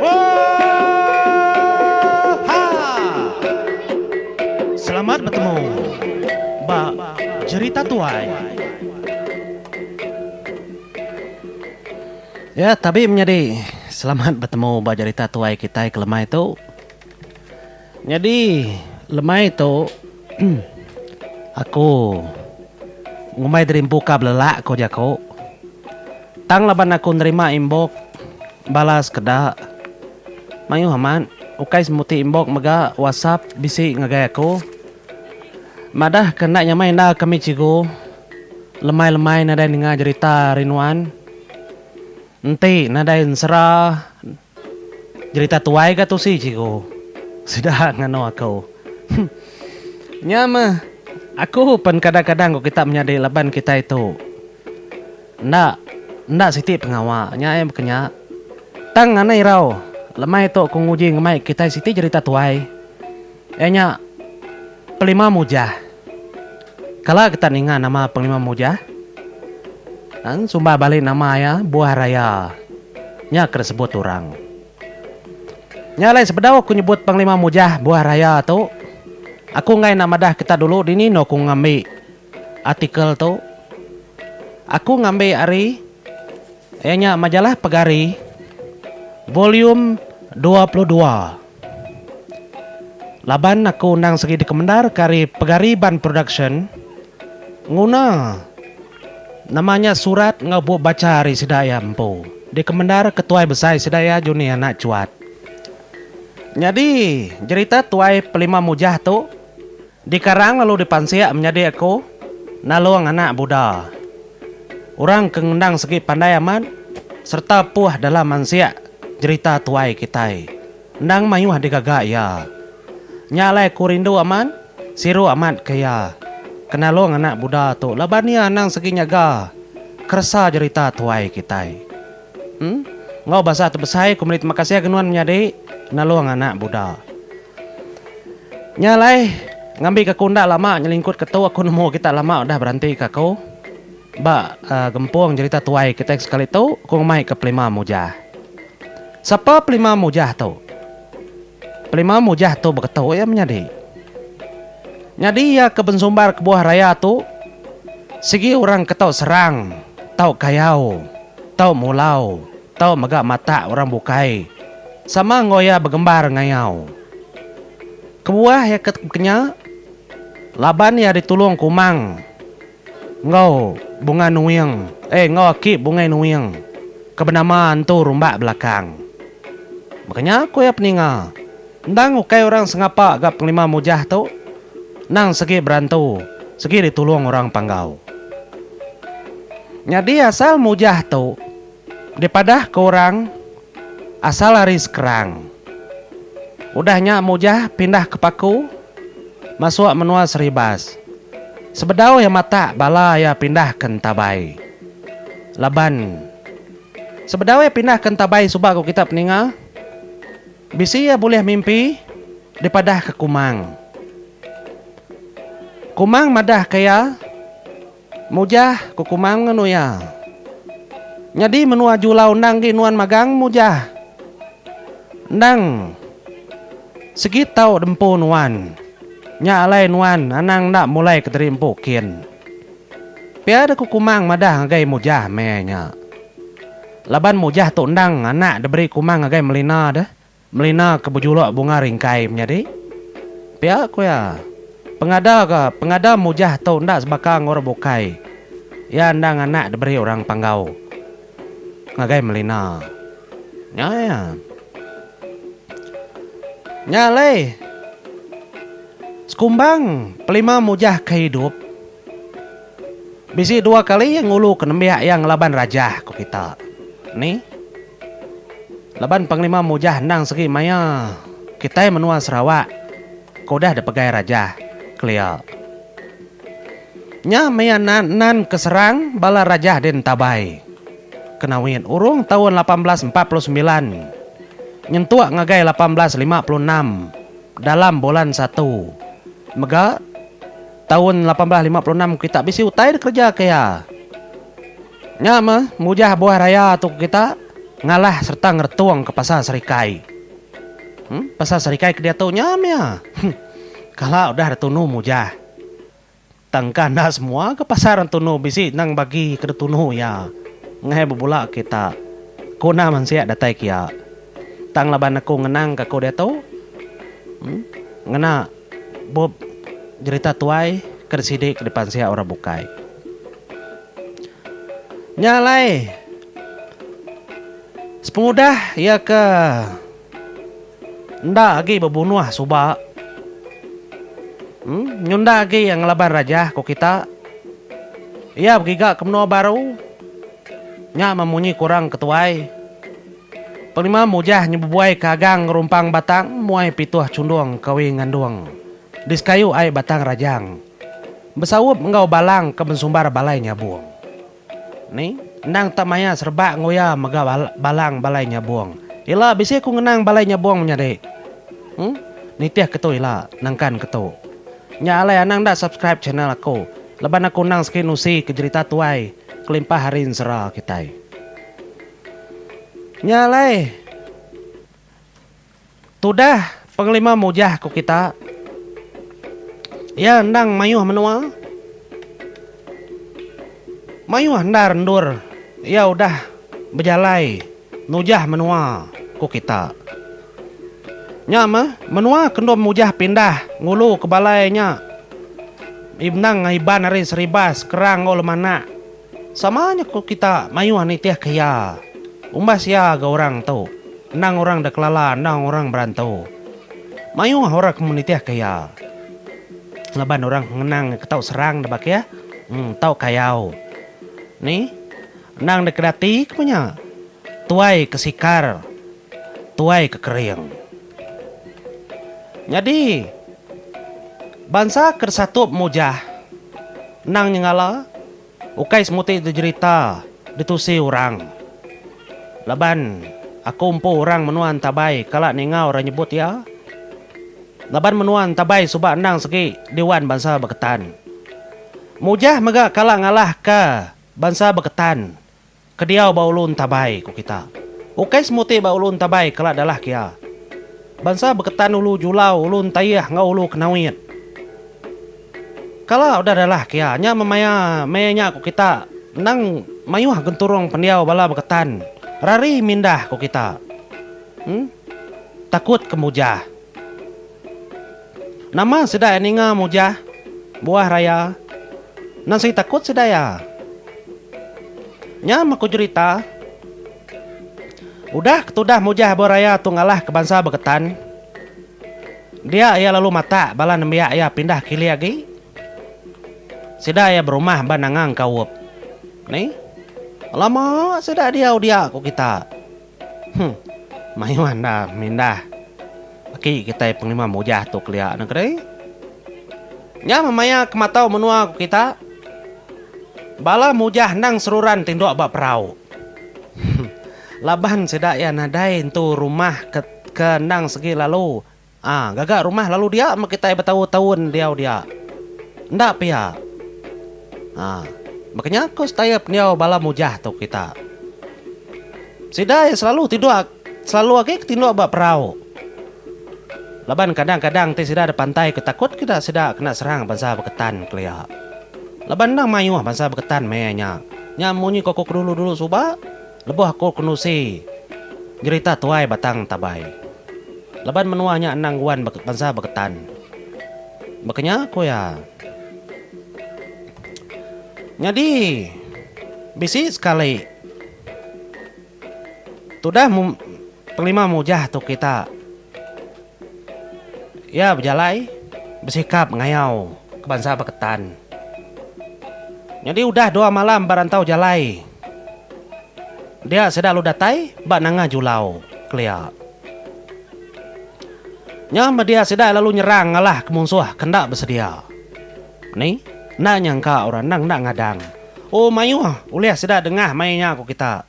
Oohhha! Selamat betemu ba jerita tuai. Ya, tabi menyadi selamat betemu ba jerita tuai kitai ke lemai tu. Nyadi lemai tu aku ngumbai diri empu ka belelak ko jaku. Tang laban aku nerima imbok bala sekeda. Mayuh amat, ukai semuti imbok mega WhatsApp bisi ngagai aku. Madahka enda nyamai enda kami cigu, lemai-lemai nadai ninga jerita ari nuan. Enti nadai ensera. Jerita tuai ga tusi cikgu. Sida nganu aku. Huh. Nya meh aku pen kadang-kadang ku kita menyadi laban kitai tu enda enda siti pengawa nya ai baka nya. Tang anai irau lemai tu aku nguji ngemai kitai siti jerita tuai. Iya nya Pelima Mujah. Kala kita ninga nama Pelima Mujah, nang sumbar bali nama iya Buah Raya, nya ke disebut orang. Nya alai sebedau aku nyebut Panglima Mujah Buah Raya tu, aku enggai enda madah kita dulu dini enda aku ngambi artikel tu. Aku ngambi ari iya nya majalah Pegari, volume dua puluh dua. Laban aku endang segi dikemendar ke ari Pegariban Production nguna nama nya surat enggau bup bacha ari sida iya empu dikemendar ke tuai besai sida iya Juni Anak Chuat. Nyadi jerita tuai Pelima Mujah tu. Dikarang lalu dipansik menyadi aku Nalung anak Buddha. Orang ke ngendang segi pandai amat sereta puh dalam mansik jerita tuai kitai. Endang mayuh digaga iya. Nya alai aku rindu amat, siru amat ke iya, ke Nalung anak Buddha tu laban iya anang segi nyaga keresa jerita tuai kitai. Enggau basa tu besai ku meli terima kasih ke nuan menyadi nalung anak buda. Nya alai ngambi ke aku enda lama nyelingkut ke tu aku nemu kita lama udah beranti ke aku ba gempung jerita tuai kitai sekali tu aku ngemai ke Pelima Mujah. Sapa Pelima Mujah tu? Pelima Mujah tu beketu iya menyadi. Nyadi iya ke bensumbar kebuah raya tu sigi orang ke tau serang tau kayau. tau mulau, tau mega matak orang bukai sama enggau iya begembar ngayau. Kebuah iya ke bekenya, laban iya ditulung Kumang enggau Bunga Nuing, eh enggau aki Bungai Nuing ke benama Entu Rumbak Belakang. Bekenya ku iya peninga. Endang ukai orang sengapa ga pengelima mujah tu, endang segi berantu, segi ditulung orang panggau. Nyadi asal mujah tu dipadah ke orang asal ari Skrang. Udah nya mujah pindah ke Paku masuk menua Seribas. Sebedau iya matak bala iya pindah ke Entabai. Laban sebedau iya pindah ke Entabai suba ku kita peninga. Bisi iya bulih mimpi dipadahka Kumang. Kumang madahka iya, Mujah, ku Kumang ngenu iya. Nyadi menua Julau endang agi nuan magang, Mujah. Endang sigi tau diempu nuan. Nya alai nuan anang enda mulaika diri empu kin. Pia deh ku Kumang madah ngagai Mujah meh nya. Laban mujah tu endang anak diberi kumang ngagai Melina deh, Melina ke bejuluk Bunga Ringkai menyadi. Pia ku iya, pengada ga pengada mujah tu enda sebaka enggau orang bukai, iya endang anak diberi orang Panggau ngagai Melina. Nya iya. Nya alai sekumbang pelima mujah ke hidup. Bisi dua kali iya ngulu ke nembiak iya ngelaban raja, ku kita. Ni? Laban Panglima Mujah endang segi maya kitai menua Sarawak ke udah dipegai raja, kelia. Nya maya nan-nan ke serang bala raja di Entabai, kena win urung taun lapan belas empat puluh semilan nyentuk ngagai lapan belas lima puluh enam dalam bulan satu mega, Taun lapan belas lima puluh enam kita bisi utai dikereja ke iya. Nya meh mujah buah raya tu ke kita ngalah sereta ngeretung ke Pasar Serikai. Em, Pasar Serikai ke diatu nya meh iya. Kala udah Retunu mujah. Tangka enda semua ke pasar Retunu bisi nang bagi ke Retunu iya ngagai bebula ke kita. Ku enda mansik datai ke iya. Tang laban aku ngenang ke aku diatu. Em, ngena. Bup jerita tuai ke disidi ke dipansik orang bukai. Nya alai sepengudah iya ke enda agi bebunuh suba em nyunda agi iya ngelaban rajah ku kita iya begiga ke menua baru nya meh munyi ke orang ke tuai. Pengelima mujah nyebebuai ke agang ngerumpang batang muai pituh chundung kawi ngandung di sekayu ai batang rajang besaup enggau balang ke bensumbar balai nyabung ni endang tak maya serebak nguya mega balang balai nyabung ila bisi ku ngenang balai nyabung menyadi huh nitih ke tu ila nangkan ke tu nya alai anang enda subscribe channel aku laban aku endang segi nusi ke jerita tuai kelimpah ari ensera kitai. Nya alai tudah pengelima mujah ku kita. Iya endang mayuh menua. Mayuh endar endur iya udah bejalai nujah menua ku kita. Nya meh menua ke enda mujah pindah ngulu ke balai nya endang Iban ari Seribas, Kerang enggau Lemanak. Sama nya ku kita mayuh nitihka iya. Umbas iya ga orang tu, endang orang da kelala endang orang berantu. Mayuh orang ke menitihka iya. Laban orang ke ngenang iya ke tau serang da bakih, tau kayau. Ni, endang da kedati kebuah nya, tuai ke sikar, tuai ke kering. Nyadi. Bansa ke desatup mujah endang nyengala ukai semuti dejerita ditusi orang. Laban aku empu orang menua Entabai kala ninga orang nyebut iya. Laban menua Entabai suba endang segi Diwan Bansa Beketan. Mujah mega kala ngalahka Bansa Beketan Kediau ba ulu entabai, ku kita. Ukai semuti ba ulu entabai kela dalah kia. Bansa beketan ulu julau, ulu entaih enggau ulu kenawit. Kala udah dalah kia, nya memaya meh nya ku kita, endang mayuh genturung pendiau bala beketan rari mindah ku kita. Em. Takut kemujah. Nama sida ninga mujah buah raya nan sigi takut sida iya. Nya meh ku jerita, udah ketudah mujah buah raya tu ngalah ke bansa beketan, dia iya lalu matak bala nembiak iya pindah ke ili agi. Sida iya berumah ba Nangang Kaup. Ni. Alamak, sida diau dia ku kita. Huh. Mayuh andal mindah. Aki kitai pengelima mujah tu kelia nengke deh. Nya meh maya ke matau menua ku kita. Bala mujah endang seruran ti endok ba perau. Huh. Laban sida iya nadai entu rumah ke ke endang segi lalu. A. Gaga rumah lalu dia meh kitai betau taun diau dia. Enda pia. A. Baka nya ku Stayep endiau bala mujah tu kita. Sida iya selalu tidur selalu agi ke tinduk ba perau. Laban kadang kadang ti sida dipantai ku takut ke ida sida kena serang bansa beketan kelia. Laban endang mayuh bansa beketan meh iya nya. Nya munyi ku aku ke dulu dulu suba. Lebuh aku ke nusi nyerita tuai batang tabai laban menua nya endang nguan bansa beketan. Baka nya ku iya. Nyadi bisi sekali tudah pengelima mujah tu kita. Iya bejalai besikap ngayau ke bansa beketan. Nyadi udah dua malam ba rantau jalai dia sida lalu datai ba nanga julau kelia. Nya media sida lalu nyerang ngalah ke munsuh ke enda besedia. Ni enda nyangka orang endang enda ngadang. Oh mayuh ulih sida dengah mai nya ku kita.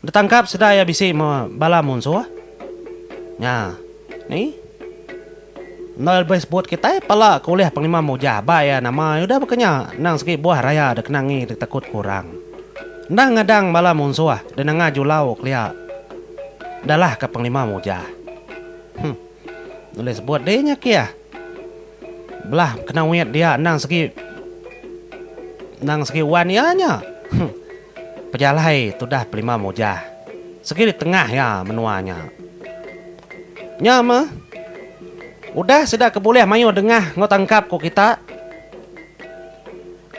Betangkap sedai iya bisi me bala munsuh nya ni. Endur iya lebih sebut kitai pala ke ulih pengelima mujah ba iya nama iya udah bekenya endang segi buah raya dikenangi ditekut ke orang. Enda ngadang bala munsuh dinanga julau kelia ndalahka pengelima mujah. Huh. Ulih sebut dih nya kih. Belah kena wit dia endang segi endang segi wan iya nya. Huh. Pejalai tudah Pelima Mujah sigi di tengah iya menua nya. Nya meh, udah sida ke bulih mayuh dengah enggau tangkap ku kita.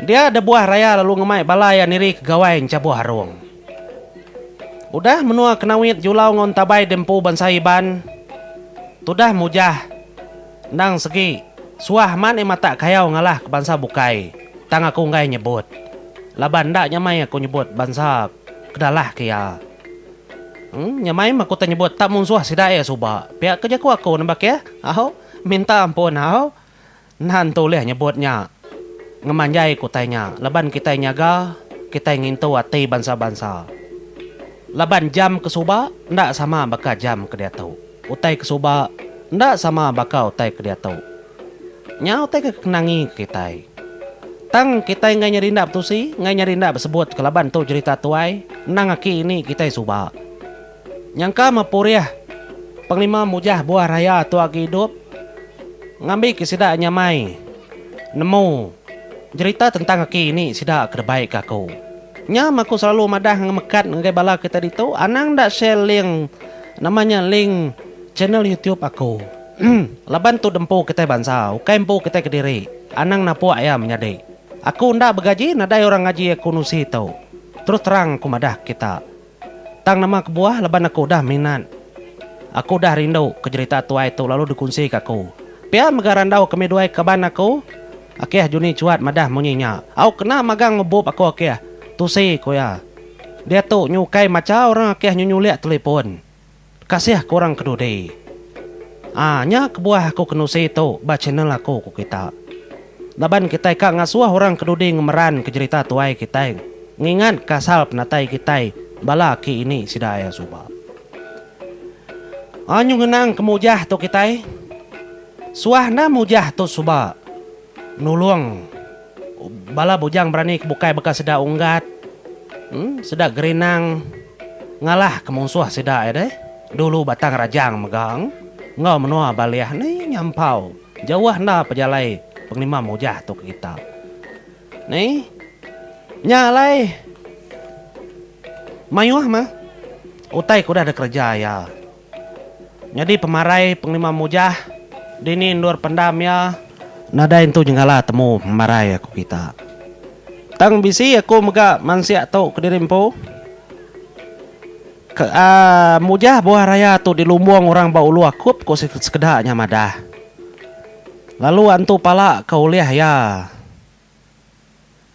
Dia da buah raya lalu ngemai bala iya niri ke Gawai Enchabuh Arong. Udah menua Kenawit, Julau enggau Entabai di empu bansa Iban tudah Mujah. Endang segi, suah amat ni matak kayau ngalah ke bansa bukai, tang aku enggai nyebut. Laban enda nyamai aku nyebut bansa ke dalah ke iya. Emm, nyamai meh aku tau nyebut tak munsuh sida iya suba. Pia ke jaku aku nambah ke, au, minta ampun au. Enda entu ulih nyebut nya ngemanjai ke utai nya laban kitai nyaga, kitai ngintu ati bansa-bansa. Laban jam ke suba enda sama baka jam ke diatu. Utai ke suba enda sama baka utai ke diatu. Nya utai ke kekenangi ke kitai. Tang kitai enggai nyadi enda betusi, enggai nyadi enda besebut kelaban tu jerita tuai endang aki ini kitai suba. Nyangka mepurih pengelima mujah buah raya tu agi idup ngambi ke sida nyamai nemu jerita tentang aki ini sida ke debai ke aku. Nya mah aku selalu madah ngemekat ngagai bala kitai ditu anang enda share link. Nama nya link channel youtube aku. Laban tu dempu kitai bansa ukai empu kitai kediri anang napuk iya menyadi. Aku enda begaji nadai orang ngaji aku nusi tu. Terus terang aku madah kita. Tang nama kebuah laban aku udah minat. Aku udah rindu ke jerita tuai tu lalu dikunsi ke aku. Pia mega randau kami duai kaban aku. Akih Juni Chuat madah munyi nya. Au kena magang ngebup aku akih. Tusi ku iya. Diatu nyu ukai macha orang akih nyu nyulik telipun. Kasih ke orang ke dudi. Aa nya kebuah aku kenusi tu ba channel aku ku kita. Laban kitai ka ngasuh orang ke dudi ngemeran ke jerita tuai kitai ngingat ka asal penatai kitai bala aki ini sida ia suba. Aa nyu ngenang ke mujah tu kitai. Suah nah mujah tu suba. Nulung. Bala bujang berani ke bukai baka sida Unggat, sida Gerinang ngalah ke munsuh sida iya deh. Dulu Batang Rajang mega enggau menua Baleh ni nyampau jauh enda pejalai pengelima mujah tu ke kita. Ni nya alai mayuh mah utai ke udah dikereja iya. Nyadi pemarai pengelima mujah dini endur pendam iya. Nadai entu nyengala temu pemarai aku kita. Tang bisi aku mega mansik tu kediri empu. Ke a mujah buah raya tu dilumbung orang ba ulu akup ku sekeda nya madah. Lalu antu pala ke ulih iya.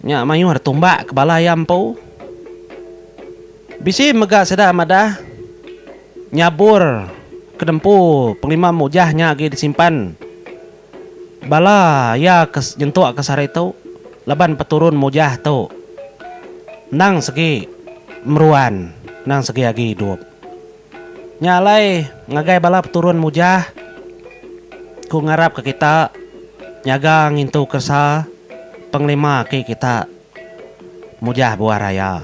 Nya mayuh dah tumbak ke bala iya empu. Bisi mega sida madah nyabur ke nempu pengelima mujah nya agi disimpan bala iya ke nyentuk ke sehari tu laban peturun mujah tu endang segi meruan endang segi agi idup. Nya alai ngagai bala peturun Mujah, ku ngarapka kita nyaga ngintu keresa pengelima aki kita Mujah buah raya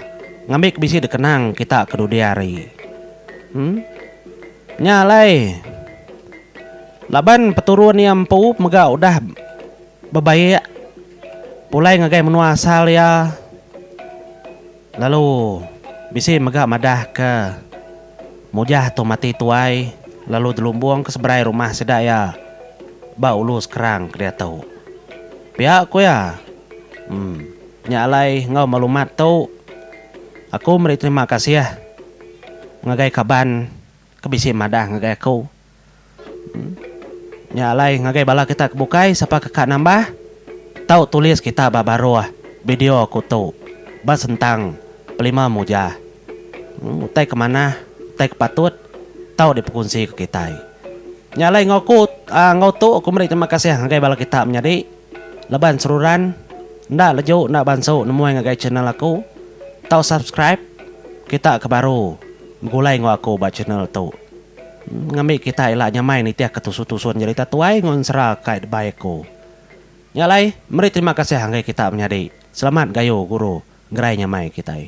ngambi ke bisi dikenang kita ke dudi hari. Em. Nya alai laban peturun iya empu mega udah bebaik pulai ngagai menua asal iya. Lalu bisi mega madah ke Mujah tu mati tuai lalu dilumbung ke seberai rumah sida iya ba ulu sekerang ke diatu. Pia ku iya, Em, nya alai enggau malumat tu aku meri terima kasih ngagai kaban ke bisi madah ngagai aku. Nya alai ngagai bala kita ke bukai sapa ke ka nambah tau tulis kita ba baruh bideo aku tu ba sentang pelima mujah utai ke manah utai ke patut tau dipekunsi ke kitai. Nya alai enggau aku enggau tu aku meri terima kasih ngagai bala kita menyadi laban seruran enda leju enda bansu nemuai ngagai channel aku tau subscribe kita ke baru begulai enggau aku ba channel tu. Ngambi kitai ila nyamai nitih ke tusun-tusun nyerita tuai enggau ensera kai debai aku. Nya alai, meri terima kasih enggai kita menyadi. Selamat gayu guru ngerai nyamai kitai.